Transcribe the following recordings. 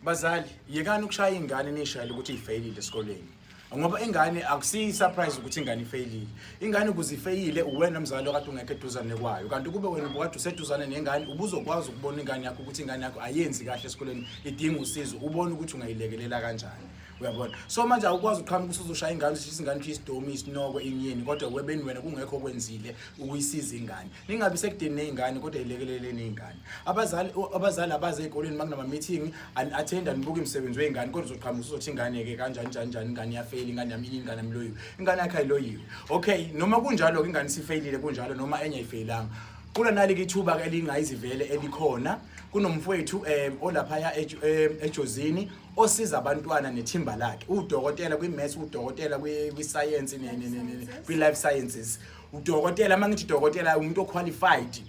Bazali, yekani ukushaya ingane nishayile ukuthi ifeyilile esikoleni. Ngoba ingane akusiyi surprise ukuthi ingane ifeyilile. Ingane ukuze ifeyile uwena mzali okade ungekho eduzane kwayo. Kanti kube wena ubukade useduzane nengane ubuzokwazi ukubona ingane yakho ukuthi ingane yakho ayenzi kahle esikoleni idinga usizo. Ubone ukuthi ungayilekelela kanjani. Uyabona? So manje awukwazi uqhamuka usuzoshaya ingane ushisa ingane ushisa isidomi isinoko inyeni kodwa webeni wena kungekho okwenzile ukuyisiza ingane. ningabi sekudeni nezingane kodwa ilekelele nezingane abazali abazali abaze ezikoleni makunama meeting and attend and book imisebenzi wezingane kodwa uzoqhamuka uzothi ingane ke kanjani njani njani ingane yafeli ingane yami ingane mloyiwe ingane yakhe ayiloyiwe okay noma kunjalo ke ingane sifailile kunjalo noma enye ayifeyilanga kula nali kithuba ke elingayizivele elikhona kunomfowethu eh olaphaya eh, ejozini osiza abantwana nethimba lakhe udokotela kwi maths udokotela kwi science ne kwi life sciences udokotela uma ngithi dokotela umuntu oqualified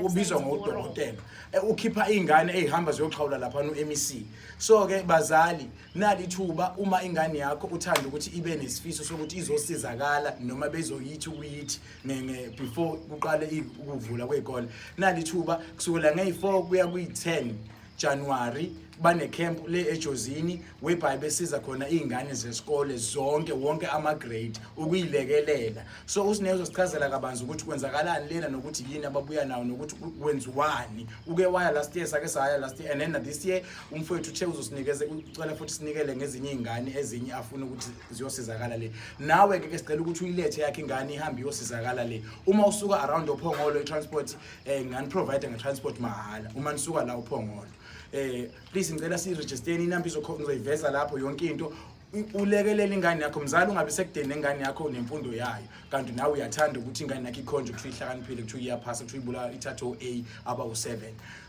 ubizwa ngodokotela e, ukhipha ingane ezihamba ziyoxhawula lapha no MEC so ke bazali nali thuba uma ingane yakho uthanda ukuthi ibe nesifiso sokuthi izosizakala noma bezoyithi ukuyithi ngeke before kuqale ukuvula kwezikole nali thuba kusukela ngey4 kuya kwi10 January bane camp le ejozini webhayi besiza khona izingane zesikole zonke wonke ama grade ukuyilekelela so usinezo sichazela kabanzi ukuthi kwenzakalani lena nokuthi yini ababuya nawo nokuthi kwenziwani uke waya last year sake saya last year and then this year umfowethu uthe uzosinikeza ucela futhi sinikele ngezinye izingane ezinye afuna ukuthi ziyosizakala le nawe ke sicela ukuthi uyilethe yakhe ingane ihambe iyosizakala le uma usuka around ophongolo i transport eh ngani provide nge transport mahala uma nisuka la uphongolo eh please ngicela si register inamba izoyiveza lapho yonke into ulekelela ingane yakho mzali ungabe sekudeni nengane yakho nemfundo yayo kanti nawe uyathanda ukuthi ingane yakho ikhonje ukuthi ihlakaniphile ukuthi iyaphasa ukuthi uyibula ithathe o-a aba u-7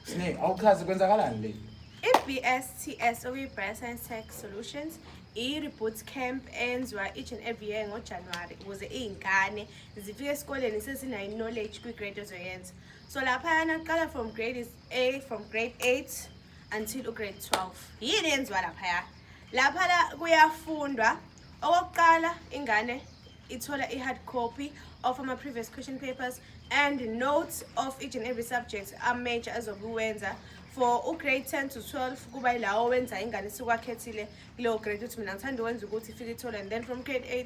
sine awuchaze kwenzakalani le i-bsts okuyi-bioscience tech solutions i-reboot camp enziwa each and every year ngojanuwari ukuze iy'ngane zifike esikoleni sesinayo knowledge kwi-grade ozoyenza so laphayana kuqala from grade is a from grade 8 until ugrade 12 yini yenziwa laphaya lapha la kuyafundwa okokuqala ingane ithola i-hard copy of ama-previous question papers and notes of each and every subject amajor azokuwenza for ugrade 10 to 12 kuba yilawo wenza ingane sikwakhethile kuleyo grade ukuthi mina ngithanda ukwenza ukuthi ifike ithole and then from grade 8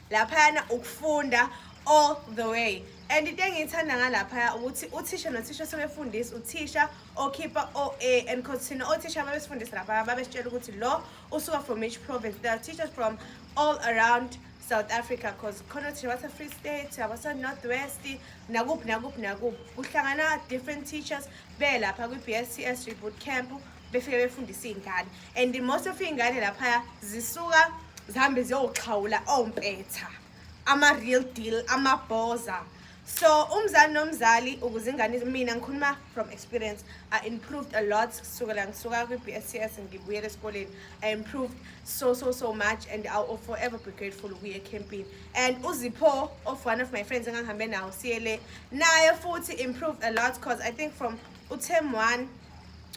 laphayana ukufunda all the way and into engiyithanda ngalaphaya ukuthi uthisha nothisha sebefundisa uthisha okhipha o-a and cause thina othisha babesifundisa laphaya babesitshela ukuthi lo usuka from each province there are teachers from all around south africa cause khona othisha base-free state abase-north west nakuphi nakuphi nakuphi kuhlangana different teachers belapha kwi-b s t s reboot camp befike befundisa iy'ngane and most of iy'ngane laphaya zisuka zihambe ziyoxhawula ompetha ama-real deal amabhoza so umzali nomzali ukuze ingane mina ngikhuluma from experience i improved a lot sukela ngisuka kwi-b s c s ngibuyela esikoleni i improved so so so much and i will forever be grateful ukuya ekhempini and uzipho of one of my friends engangihambe nawo siyele naye futhi improved a lot because i think from utem one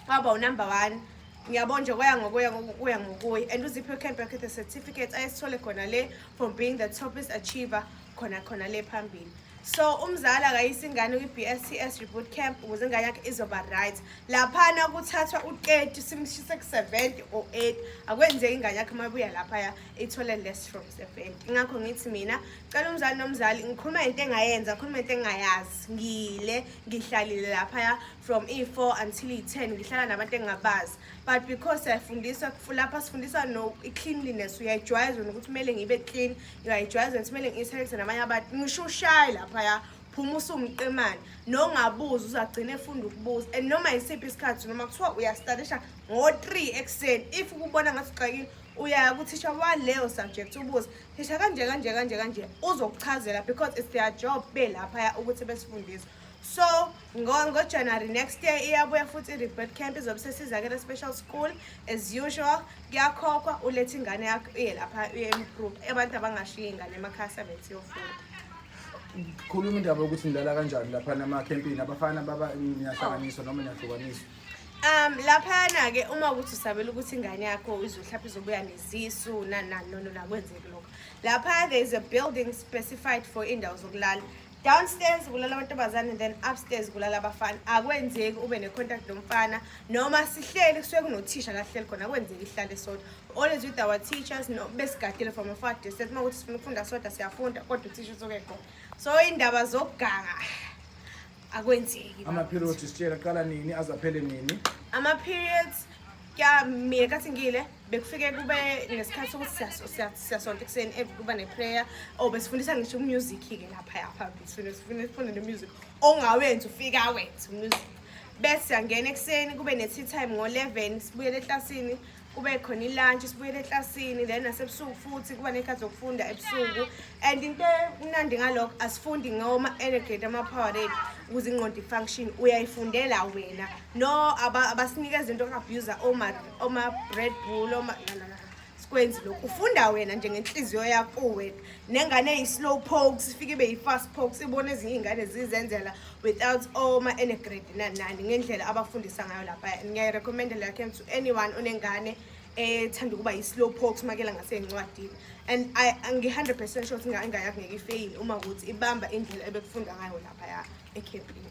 waba unumber one ngiyabona nje kwaya ngokuya ngokuya ngokuya and uziphiwe camp yakhe the certificate ayesithole khona le from being the topest achiever khona khona le phambili so umzali akayisa ingane kwi-bscs reboot camp ukuze ingane yakhe izoba right laphana kuthathwa u-30 simshise ku-70 or 8 akwenzeki ingane yakhe uma ibuya laphaya ithole less from 70 ingakho ngithi mina cela umzali nomzali ngikhuluma into engayenza ngikhuluma into engayazi ngile ngihlalile laphaya from e-four until i-ten ngihlala nabantu engingabazi but because siyafundiswa lapha sifundisa no i-cleanliness uyayijwayeza wena ukuthi kumele ngibe clean uyayijwayeza wena ukuthi kumele ngiyisebenze nabanye abantu ngisho ushaye laphaya phuma usumqemane nongabuza uzagcina efunda ukubuza and noma yisiphi isikhathi noma kuthiwa uyastadisha ngo-three ekuseni if ukubona ngathi uxakile uyaya kuthisha waleyo subject ubuze thisha kanje kanje kanje kanje uzokuchazela because it's their job belaphaya ukuthi besifundise so ngojanuary next year iyabuya futhi i-rebird camp izobe sesizakele special school as usual kuyakhokhwa ulethe ingane yakho uye lapha uye improve abantu abangashiyi ingane emakhaya sebenzi yofunda khuluma indaba yokuthi nilala kanjani lapha namakhempini abafana baba niyahlanganiswa noma niyahlukaniswa Um laphana ke uma ukuthi usabela ukuthi ingane yakho izohlapha izobuya nezisu nanani nono nakwenzeki lokho. Lapha there is a building specified for indawo zokulala. Downstairs kulala amantombazane then upstairs kulala abafana. Akwenzeki ube ne contact nomfana noma sihleli kusuke kunothisha la hleli khona akwenzeki ihlale sodwa. Always with our teachers no besigadile from afar distance uma ukuthi sifuna ukufunda sodwa siyafunda kodwa uthisha usuke khona. So indaba zokuganga akwenzeki ama-period sitshela qala nini azaphele nini ama-periods kya mina kathi ngile bekufike kube nesikhathi sokuthi siyasonta ekuseni eh, kuba ne-prayer o oh, besifundisa ngisho umusic-ke lapha yapha sifunde nemusic ongawenzi ufike awenze umusic bese siyangena ekuseni kube ne-tea time ngo-eleven sibuyele eklasini kube khona ilunch sibuyele eklasini then nasebusuku futhi kuba nekhathi zokufunda ebusuku and into emnandi ngalokho asifundi ngoma energate ama-power rate ukuze ingqondo i-function uyayifundela wena no abasinika izinto ka-abuser oma-bread bull oma sikwenzi lokhu ufunda wena njengenhliziyo yakho wena nengane eyi-slow pokes ifike ibe yi-fast pokes ibona ezinye iy'ngane zizenzela without oma enegrade nanani ngendlela abafundisa ngayo lapha ngiyayirecommenda leyo camp to anyone onengane ethanda ukuba yi-slow pox makela ngaseyincwadini and ngi-hundred percent sure ukuthi ingayakungeke ifeyile uma ukuthi ibamba indlela ebekufunda ngayo laphaya ekhempini